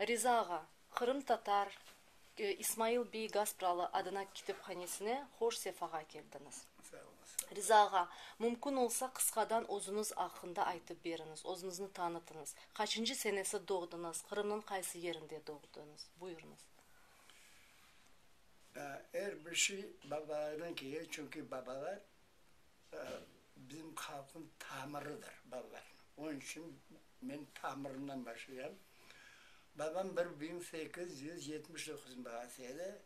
Riza ağa, qırımtatar İsmail bey Gaspralı adına kitephanesine hoş sefağa keldiñiz. Riza ağa, mümkün olsa, qısqadan özüñiz aqqında aytıp beriñiz, özüñizni tanıtıñız, qaçıncı senesi doğdıñız, Qırımnıñ qaysı yerinde doğdıñız? Buyurıñız. Er bir şey babalardan kele, çünki babalar bizim halqnıñ tamırıdır, babalar. Onıñ içün Men tamırından başlayam. Babam bir biñ sekiz yüz yetmiş doquz bağası edi.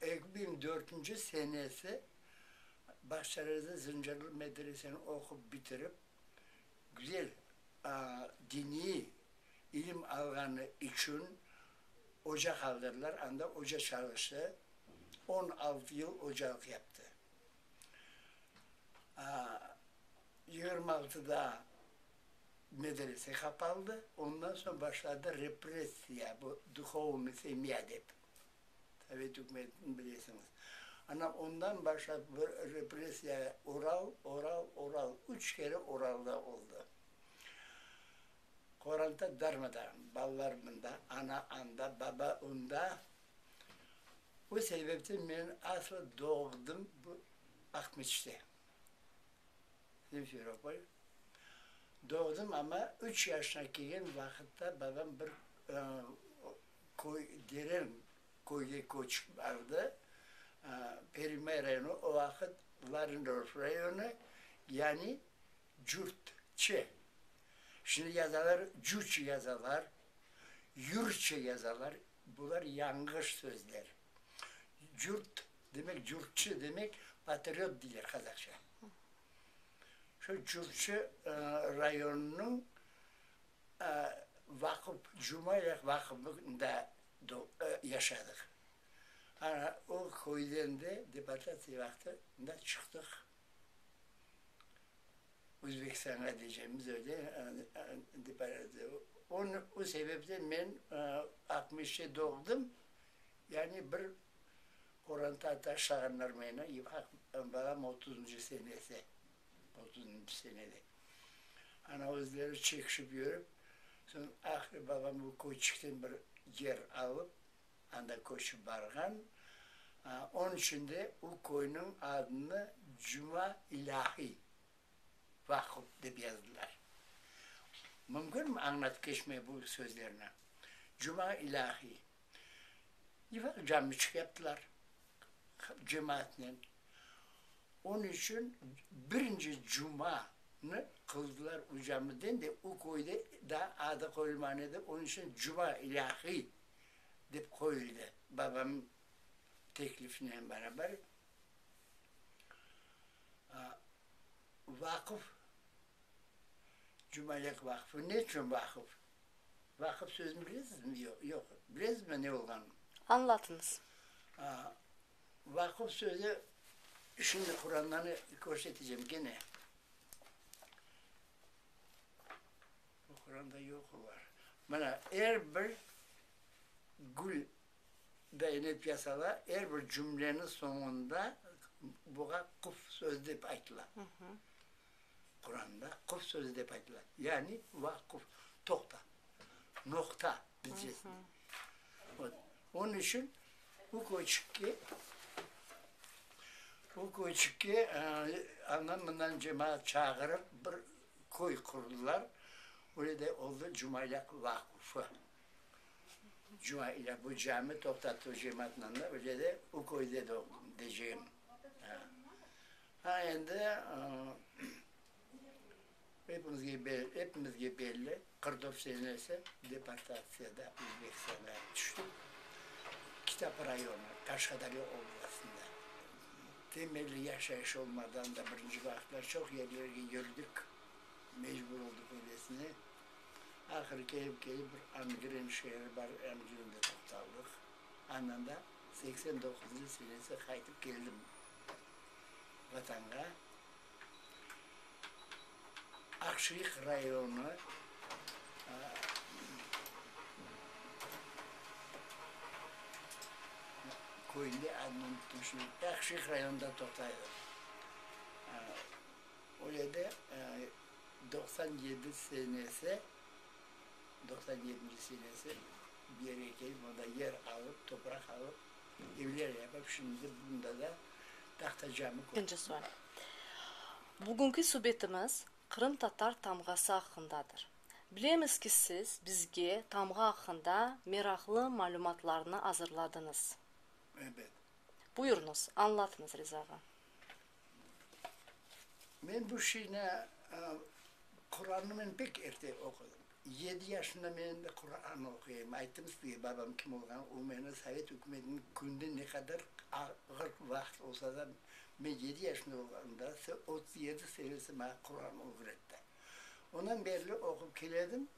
Eki biñ dörtünci senesi Bağçaler'de Zıncırlı medreseni oqup bitirip, güzel diniy ilim alğanı içün oca qaldırdılar, anda oca çalıştı. On altı yıl ocalıq yaptı. Yigirmi altıda medrese qapaldı, ondan soñ başladı repressiya, bu duhovnıy semya dep, sovet ükümetini bilesiñiz. Ana, ondan başlap bu repressiya Oral, Oral, Oral, üç kere Oralda oldı. Qoranta darmadağın, balalar mında, ana anda, baba unda. O sebepten men aslı doğdım bu Aqmeçte. Simferopol. Doğdım, amma üç yaşına kirgen vaqıtta babam bir köy, Deren köyge köçip bardı, Perimay rayonı, o vaqıt Varindorf rayonı, yani Cürtçe. Şimdi yazalar Cüç yazalar, Yürçe yazalar, bular yanğış sözler. Cürt demek, cürtçi demek, patriot deyler qazaqça. Şu cürtçi rayonınıñ vaqıf, Cumayaq vaqıfında yaşadıq. Ana o köyden de deportatsiya vaqtında çıqtıq. Özbekistanğa diycemiz öyle, deportatsiya. O sebepten men altmış yedi doğdım, Yani bir qoranta taş sağandırmayına yıpaq balam otuzıncı senesi, otuzıncı senede. Ana özleri çekişip yürip, soñ ahri babam bu köçükten bir yer alıp, anda köçip barğan. Onıñ içün de o köyniñ adını Cuma İlâhiy Vakup dep yazdılar. Mümkünmi añlatıp keçmege bu sözlerni? Cuma İlâhiy. Divar cami çıqyaptılar cemaatnen. Onı içün birinci cumanı qıldılar o camiden de, o köyde daa adı qoyulmağan edi, onı içün Cuma ilâhiy dep qoyuldı, babamnıñ teklifinen barabar. Vaqıf, Cumalek vaqıfı ne içün vaqıf? Vaqıf sözüni bilesizmi? Yoq, yoq. Bilesizmi ne olğanını? Añlatıñız. A, vaqıf sözü, şimdi Qurandanı körseteceğim gene. Bu Quranda yoq olar. Mana, er bir gül beyenip yasala, er bir cümleniñ soñunda buğa quf sözü dep aytıla. Quranda quf sözü dep aytıla, yani vaquf, toqta, noqta bilcesine. Vot, onıñ içün bu köçükke, bu köçükke andan-bundan cemaat çağırıp bir köy qurdılar, öyle de oldı Cumayaq vaqufı. Cumayaq, bu cami toqtattığı cemaatınanda öyle de o köyde doğdum, deceğim. Ha, endi epimizge belli, Qırdob Senesi deportatsiyada Özbekistanğa tüştik. Kitap rayonı, Qaşqadaryo oblastında. Temelli yaşayış olmadan da birinci vaqıtlar çoq yerlerge yürdik, mecbur oldıq öylesine. Ahır kelip-kelip bir Angren şeeri bar, Angrende toqtaldıq. Andan da seksen doquzuncu senesi qaytıp keldim Vatanğa Aqshilik rayonı köyünde adının tüşüv, Aqshilik rayonında toqtaylar. O yerde doqsan yedi senesi, doqsan yedinci senesi bir yere kelip, onda yer alıp, topraq alıp, Birinci sual. Bugünki subetimiz qırımtatar tamğası aqqındadır. Bilemiz ki, siz bizge tamğa aqqında meraqlı malümatlarnı azırladıñız. Buyurıñız, añlatıñız rizağa. Men bu şeyni Quranımnen pek erte oqudım. Yedi yaşında men endi Quran oquyım. Ayttım sizge, babam kim olğanı, o meni sovet ükümetiniñ künde ne qadar ağır vaqıt olsa da, men yedi yaşında olğanımda otuz yedi senesi maña Quran ögretti. Ondan berli oqup keledim.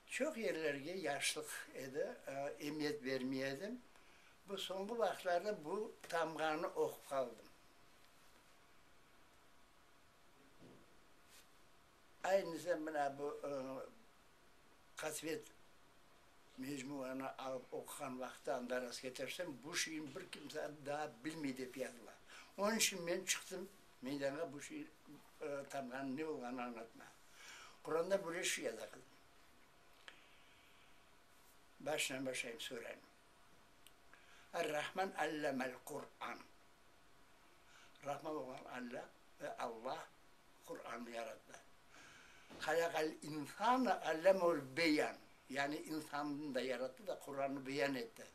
Çoq yerlerge yaşlıq edi, emiyet bermey edim. Bu soñki vaqıtlarda bu tamğanı oqup qaldım. Aynısam mına bu Qasvet mecmuanı alıp oquğan vaqıttan da rastketersem, bu şiirin bir kimse daa bilmey dep yazıla. Onıñ içün men çıqtım meydanğa bu şiir tamğanıñ ne olğanını añlatmağa. Qurandan böyle şiir yaza qızım. Başından başlayım suranıñ. Ar-Rahman allamel Qur'an. Rahman olğan Alla ve Allah Qur'anı yarattı. Halaqal insana allamehul beyan, yani insannı da yarattı da Qur'anı beyan etti.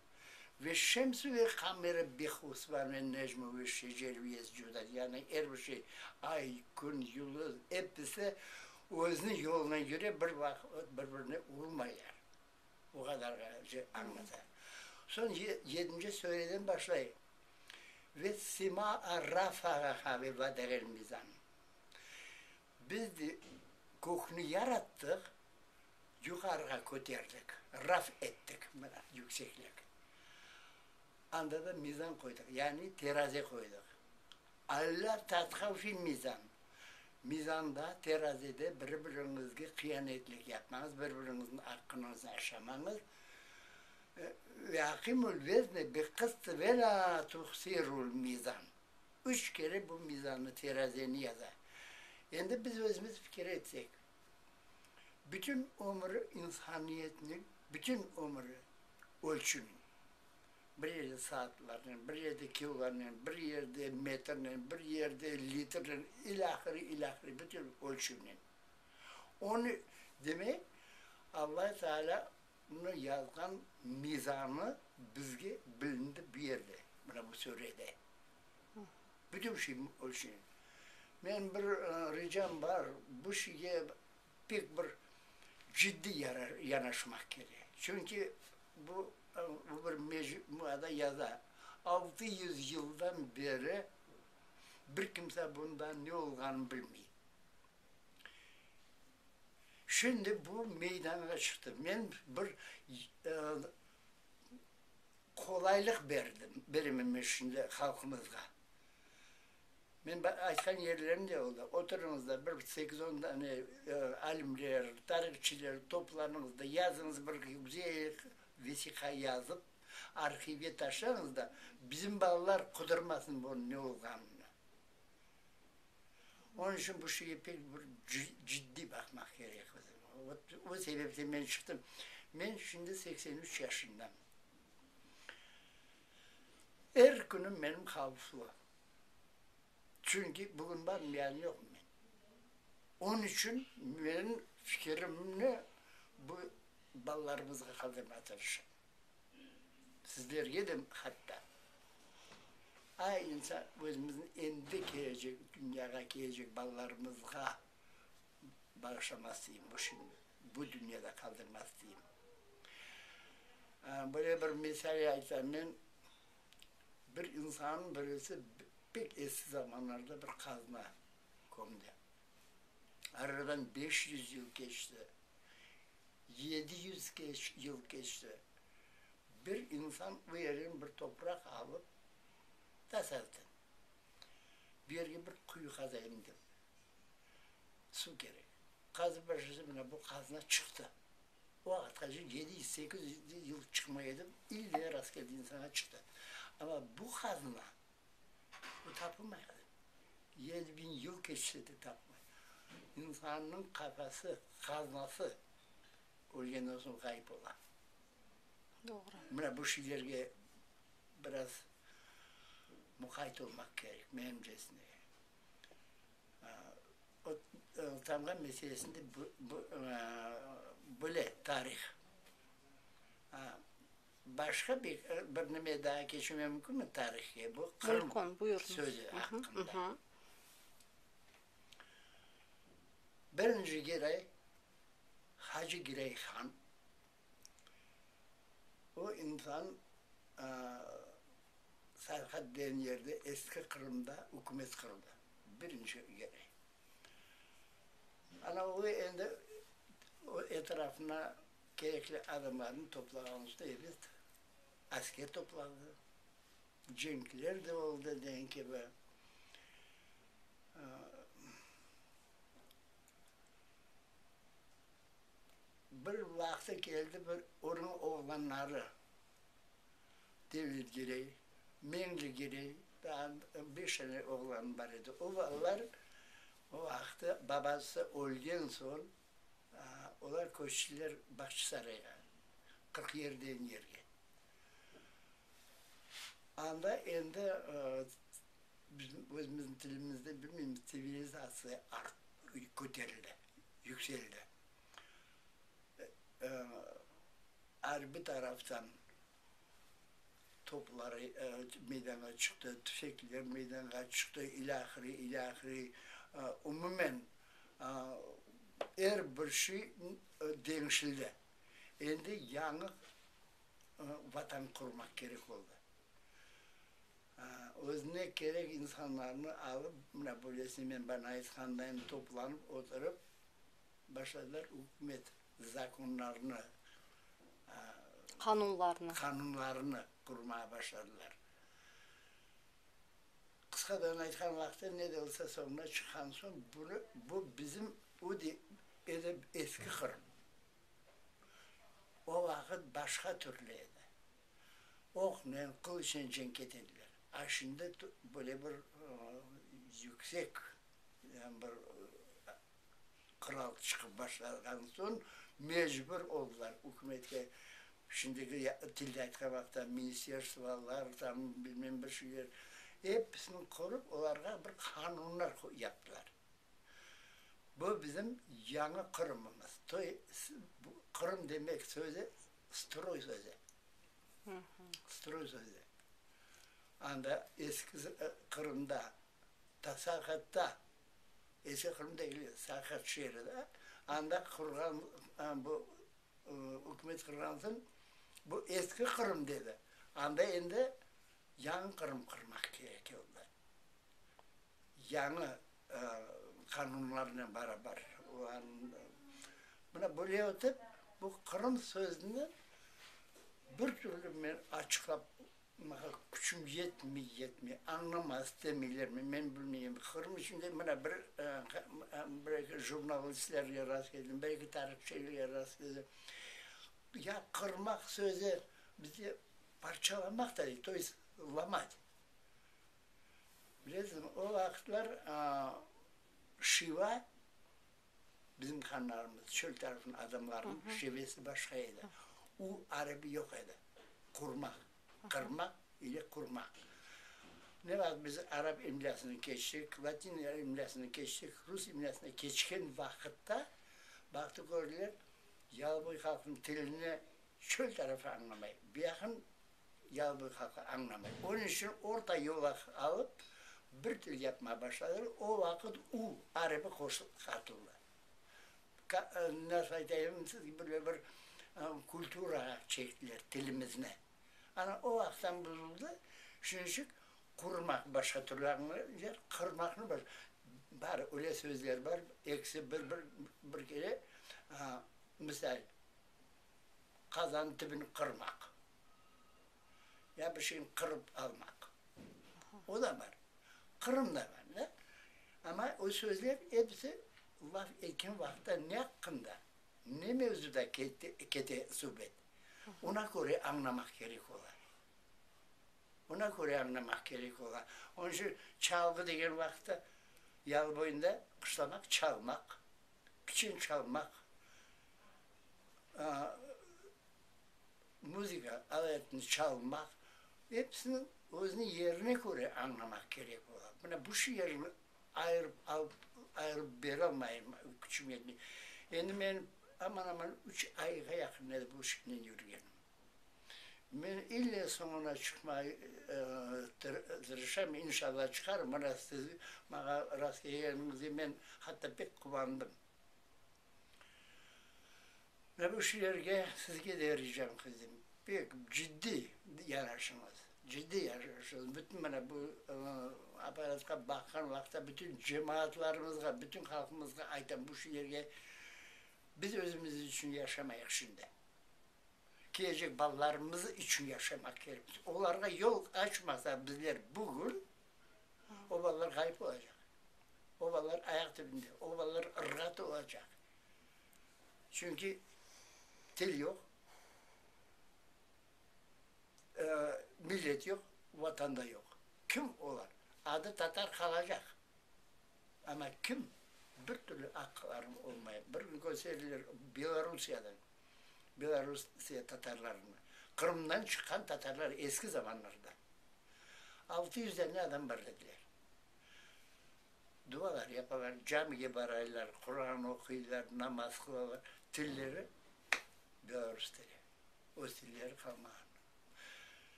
Veş-şemsi ve'l-qamere bi'husban ve'n-necmu ve'ş-şeceri bi'yescudan, yani er bir şey, ay, kün, yulduz, episi özüniñ yoluna köre bir vaqıt bir-birine urulmayar. O qadar ğayrıca añlata. Soñ yedinci sureden başlay, Ve semâ'a rafâ'aha ve vada'a'l mizân. Biz de kökni yarattıq, yuqarığa köterdik, raf ettik, mana, yükseklik. Anda da mizân qoydıq, yani terazi qoydıq. Alla tatqan içün mizân. Mizanda, terazide bir-biriñizge qıyanetlik yapmañız, bir-biriñizniñ aqqınıñıznı aşamañız. Ve aqimul vezni biqısti ve lâ tuhsirul mizan. Üç kere bu mizannı, terazeni yaza. Endi biz özümiz fikir etsek, bütün ömüri, insaniyetniñ bütün ömüri ölçüniñ. Bir yerde saatlarnen, bir yerde kilonen, bir yerde metrnen, bir yerde litrnen, ilâhiri, ilâhiri, bütün ölçüvnen. Onı, demek, Allâh Teâlâ nı yazğan mizanı bizge bilindi bu yerde, mına bu surede. Bütün şey ölçünen. Menim bir ricam bar, bu şeyge pek bir ciddiy yanaşmaq kerek. Çünki Bu bir mecmuada yaza, Altı yüz yıldan beri bir kimse bunda ne olğanını bilmey. Şimdi bu meydanğa çıqtı. Men bir qolaylıq berdim, beremen şimdi halqımızğa. Men aytqan yerlerim de oldı. Oturıñız da, bir sekiz-on dane alimler, tarihçiler toplanıñız da, yazıñız bir güzel vesiqa yazıp, arhivge taşlañız da, bizim balalar qudırmasın bunıñ ne olğanını. Onıñ içün bu şeye pek bir ciddiy baqmaq kerek bizim. Ot, o sebepten men çıqtım. Men şimdi seksen üç yaşındamın. Er künüm menim havflı. Çünki bugün barım, yarın yoqum men. Onıñ içün men fikirimni bu balalarımızğa qaldırmağa tırışam. Sizlerge de hatta. Ay insan, özümüzniñ endi kelecek, dünyağa kelecek balalarımızğa. bağışlamaz deyim, bu işin bu dünyada qaldırmaz deyim. Böyle bir mesele aytam men, bir insanı birisi pek eski zamanlarda bir qazna kömdi. Aradan beş yüz yıl keçti, yedi yüz yıl keçti, bir insan o yerden bir topraq alıp, tazeldi. Bu yerge bir quyu qazayım dep Suv kerek. Qazıp bir şekilde mine bu qazna çıqtı. O vaqıtqa cı yedi yüz, sekiz yüz yıl çıqmay edi, ille rastgele insana çıqtı. Amma bu qazna bu tapılmay hali. Yedi biñ yıl keçse de tapılmay. İnsannıñ qafası, qaznası ölgenden soñ ğayıp ola. Doğru. Mine bu şeylerge biraz muqayt olmaq kerek, menimcesine. Tamğa meselesinde böyle tarih. Başqa bir nime daa keçmege mümkünmi tarihke? Bu Qırım sözü aqqında. Birinci giray, Hacı Giray han. O insan Serhat degen yerde, eski Qırımda ükümet qurdı, birinci kere. Ana o endi o etrafına kerekli adamlarnı toplağan usta elet, asker topladı, cenkler de oldı degen kibi. Bir vaqtı keldi bir onıñ oğlanları, Devlet Girey, Meñli Girey, daa beş tane oğlanı bar edi. O balalar o vaqtı babası ölgen soñ, olar köçtiler Bağçasarayğa, Qırqyer degen yerge. Anda endi bizim özümizniñ tilimizde, bilmeymiz, tsivilizatsiya art, köterildi. yükseldi. Arbiy taraftan toplar meydanğa çıqtı, tüfekler meydanğa çıqtı, ilâhre, ilâhre. Umumen, er bir şey deñişildi. Endi yañı Vatan qurmaq kerek oldı. Özüne kerek insanlarnı alıp, mına böylesine men bana aytqandayım, toplanıp oturıp, başladılar ükümet zakonlarını, qanunlarnı qanunlarını qurmağa başladılar. Qısqadan aytqan vaqıtı, ne de olsa soñuna çıqqan soñ, bunı, bu bizim o de, ele eski Qırım. O vaqıt başqa türlü edi. oqnen, qılıçnen cenk etediler. A şimdi böyle bir yüksek bir qural çıqıp başlağan soñ mecbur oldılar ükümetke, şimdiki tilde aytqan vaqıtta, ministerstvolar, tam bilmem bir şeyler, episini qurıp, olarğa bir qanunlar yaptılar. Bu bizim yañı Qırımımız. Toy, bu Qırım demek sözü stroy sözü. Stroy sözü. Anda eski Qırımda, ta Sarqatda, eski Qırım degil, Sarqat şeeri da, anda qurğan, bu ükümet qurğan soñ, bu eski Qırım dedi. Anda endi yañı Qırım qurmaq kerek oldı. yañı qanunlarnen barabar. Mına böyle etip, bu Qırım sözüni bir türlü men açıqlap, maña küçüm yetmey, yetmey, añlama istemeylermi, men bilmeyim. Qırım içinde mına bir bir-eki jurnalistlerge rastkeldim, bir-eki tarihçilerge rastkeldim. Ya qırmaq sözü bizde parçalamaq da, to есть lomat. Bilesiñizmi, o vaqıtlar Şiva, bizim hanlarımız, çöl tarafınıñ adamlarınıñ şivesi başqa edi. U arabi yoq edi, qurma, qırma ile qurma. Ne vaqıt biz arap imlâsını keçtik, latin imlâsını keçtik, rus imlâsına keçken vaqıtta baqtı, kördiler, Yalıboy halqınıñ tilini çöl tarafı añlamay, biyaqın yalbır halqı añlamay. Onıñ içün orta yolu alıp, bir til yapmağa başladılar. O vaqıt u arbiy qoşunğa qatıldı. Nasıl aytayım sizge, böyle bir kulturağa çektiler tilimizni. Ana o vaqıttan buzuldı. Şunıñ içün qurmaq başqa türlü añlaylar, qırmaqnı başqa. Bar, öyle sözler bar, ekisi bir-bir kere, misal, qazan tibini qırmaq, ya bir şeyni qırıp almaq, o da bar, Qırım da bar da. Amma o sözler episi laf etken vaqıtta ne aqqında, ne mevzuda ketti, kete subet, ona köre añlamaq kerek ola. Ona köre añlamaq kerek ola. Onıñ içün çalğı degen vaqıtta, yalıboyunda qışlamaq, çalmaq, piçin çalmaq, muzıka aletini çalmaq, episini özüniñ yerine köre añlamaq kerek ola. Mına bu şiirni ayırıp alıp, ayırıp berolmayım küçüme. Endi men aman-aman üç ayğa yaqın edim bu şiirnen yürgenim. Men ille soñuna çıqmay tırışam, inşalla çıqarım. Mına siz maña rast kelgeniñizge men hatta pek quvandım. Mına bu şiirge sizge de ricam qildim, pek ciddi yanaşıñız, ciddi yanaşıñız. Bütün mına bu apparatqa baqqan vaqıtta bütün cemaatlarımızğa, bütün halqımızğa aytam, bu şiirge biz özümiz içün yaşamayıq şimdi. kelecek balalarımız içün yaşamaq kerekmiz. Olarğa yol açmasaq bizler bugün, o balalar ğayıp olacaq. O balalar ayaq tübünde, o balalar ırğat olacaq. Çünki til yoq, millet yoq, vatan da yoq. Kim olar? Adı tatar qalacaq, amma kim? Bir türlü aqları olmay. Bir gün kösterdiler Belorussiyadan. Belorusiye tatarlarını. Qırımdan çıqqan tatarlar eski zamanlarda. Altı yüz dane adam bar dediler. Dualar yapalar, camige baraylar, Quran oquylar, namaz qılalar. Tilleri Belarus tili. Öz tilleri qalmağan.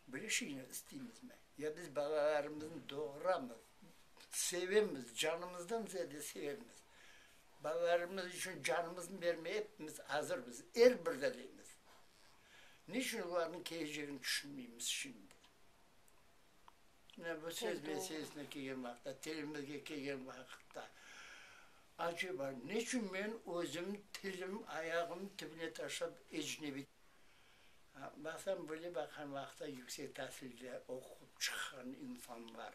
Böyle şeyni isteymizmi? Ya biz balalarımıznı doğuramız, sevemiz, canımızdan ziyade sevemiz. Balalarımız içün canımıznı bermeye epimiz azırmız, er bir delimiz. Ne içün olarnıñ kelecegini tüşünmeymiz şimdi? Mine bu söz meselesine kelgen vaqıtta, tilimizge kelgen vaqıtta, aceba, ne içün men özüm tilim ayağım tibine taşlap ecnebiy? Baqsam, böyle baqan vaqıtta yüksek tasilde oqup çıqqan insanlar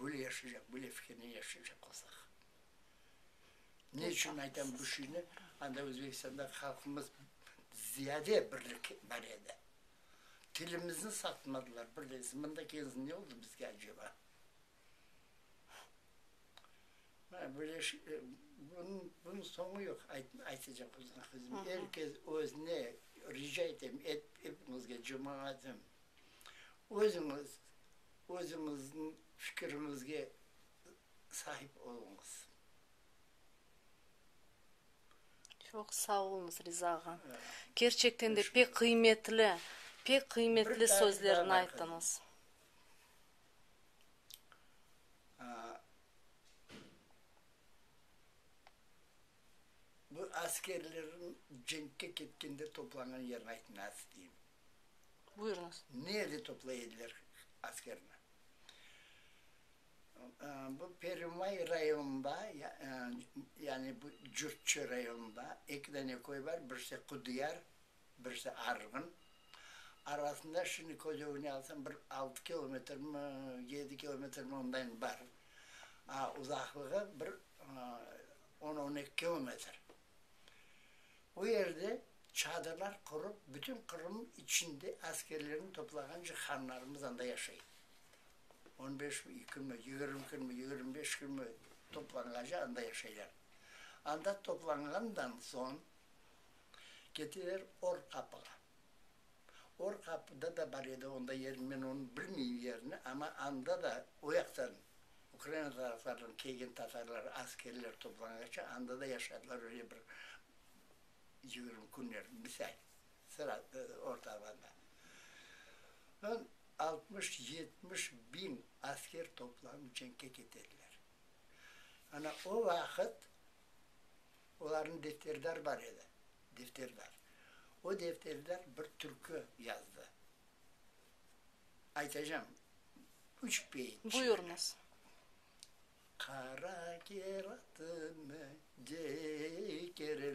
böyle yaşaycaq, böyle fikirnen yaşaycaq olsaq. Ne içün aytam bu şeyni, anda Özbekistanda halqımız ziyade birlik bar edi. Tilimizni satmadılar, bir degisi, mında kelsin ne oldı bizge aceba? Mana böyle şey, bunıñ, bunıñ soñu yoq, aytacaq olsam. Er kes özüne, rica etem, ep, epiñizge, cemaatım. Özüñiz, özüñizniñ fikiriñizge sahip oluñız. Çoq sağ oluñız, Riza ağa. Kerçekten de pek qıymetli, pek qıymetli sözlerni ayttıñız. Bu askerlerniñ cenkke ketkende toplanğan yerini aytınız, deyim. Buyurıñız. Nerde toplay ediler askerni? Bu Perumay rayonında, yani bu Cürtçü rayonında eki dane köy var, birisi Qudiyar, birisi Arğın. Arasında şimdi köz ögüne alsam bir altı kilometrmi, yedi kilometrmi ondayin bar. Uzaqlığı bir on-on eki kilometr. O yerde çadırlar qurıp, bütün Qırım içinde askerlerini toplağancı hanlarımız anda yaşay. On beş künmi, yigirmi künmi, yigirmi beş künmi toplanğaca anda yaşaylar. Anda toplanğandan soñ ketiler Orqapığa. Or qapıda da bar edi, onda yerini men onı bilmeyim yerini, amma anda da o yaqtan Ukraina taraflardan kelgen tatarlar, askerler toplanğaçı anda da yaşadılar öyle bir yigirmi künler, misal, sıra orta alanda. Soñ altmış, yetmiş biñ asker toplanıp cenkke ketediler. Ana o vaqıt. Olarnıñ defterdar bar edi, defterdar. O defterdar bir türkü yazdı. Aytacağım, üç beyit şiir. Buyurıñız. Qara keratımı cekerledim.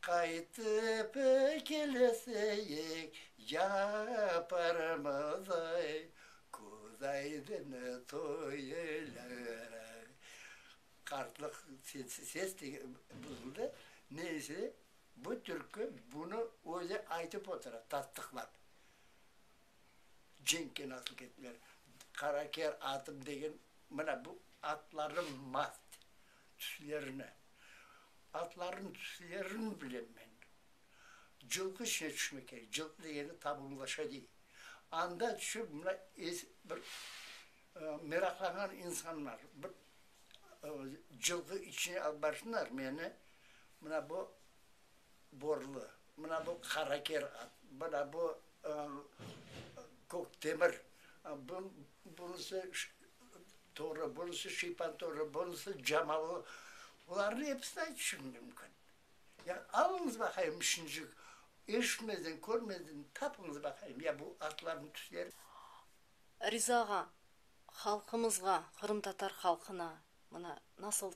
Qaytıp kelesek yaparmız ay, Köz aydını toylaraq. Qartlıq ses de buzuldı. Neyse, bu türkü bunı özü aytıp otura, tasdıqlap. Cenkke nasıl kettiler? Qaraker atım degen, mına bu atlarnıñ mast, tüslerini, atların tüslerini bilem men. Cılqı içine tüşmek kerek, cılqı degeni ta bungaça dey. Anda tüşüp, mına es, bir meraqlanğan insanlar bir cılqı içine alıp barsınlar meni, mına bu. borlu, mına bu qaraker at, mına bu kök temir, bunısı toru, bunısı şiypan toru, bunısı camalı, bularnı episini aytışım mümkün. Ya alıñız baqayım şincik, eşitmeden, körmeden tapıñız baqayım, ya bu atlarnıñ tüsleri. Riza ağa, halqımızğa, qırımtatar halqına Mına, nasıl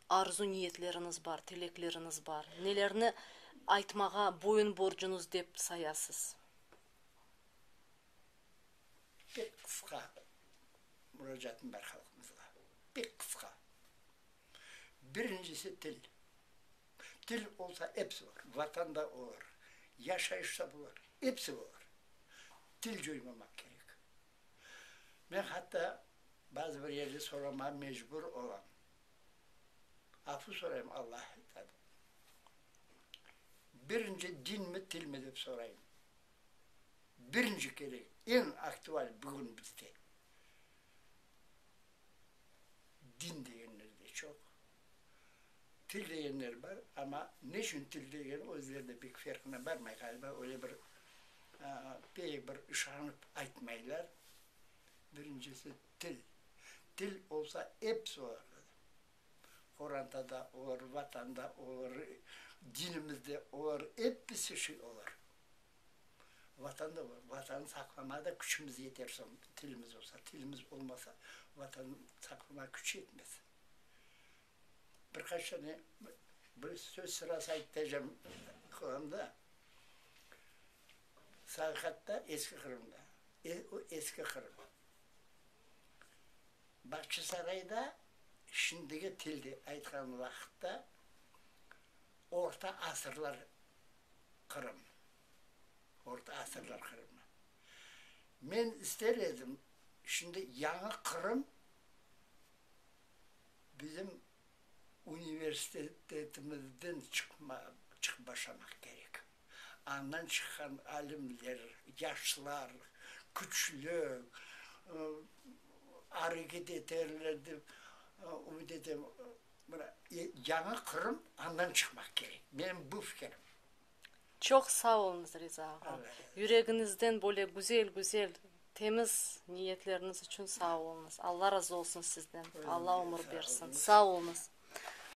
arzu-niyetleriñiz bar, tilekleriñiz bar, nelerni aytmağa boyun borcuñız dep sayasız? Pek qısqa muracaatım bar halqımızğa, pek qısqa. Birincisi, til. Til olsa, episi olar, Vatan da olar, yaşayış da olar, episi olar. Til coymamaq kerek. Men hatta bazı bir yerli soramağa mecbur olam. Afu sorayım Allah aytadı. Birinci dinmi tilmi dep sorayım. Birinci kerek, en aktual bugün bizde. Din degenler de çoq. Til degenler bar, amma ne içün til degeni özleri de pek ferqına barmay ğaliba, öyle bir pek bir işanıp aytmaylar. Birincisi, til. Til olsa episi olarda da. Qoranda da olar, Vatanda olar, dinimizde olar, episi şey olar. Vatan da olar. Vatanı saqlamağa da küçümiz yeter soñ tilimiz olsa. Tilimiz olmasa Vatanı saqlamağa küç yetmez. bir qaç tane bir söz sırası aytıp bercem Qırımda, Sarıqatta, eski Qırımda, o eski Qırım, Bağçasarayda şimdiki tilde aytqan vaqıtta orta asırlar Qırım, orta asırlar Qırımı. Men ister edim şimdi yañı Qırım bizim universitetimizden çıqıp başlamaq kerek. Andan çıqqan alimler, yaşlar, küçlü areket eterler dep ümüt etem. Yañı Qırım andan çıqmaq kerek, menim bu fikrim. Çoq sağ oluñız, Riza ağa. Yüregiñizden böyle güzel-güzel, temiz niyetleriniz içün sağ oluñız. Alla razı olsun sizden. Alla ömür bersin. Sağ oluñız.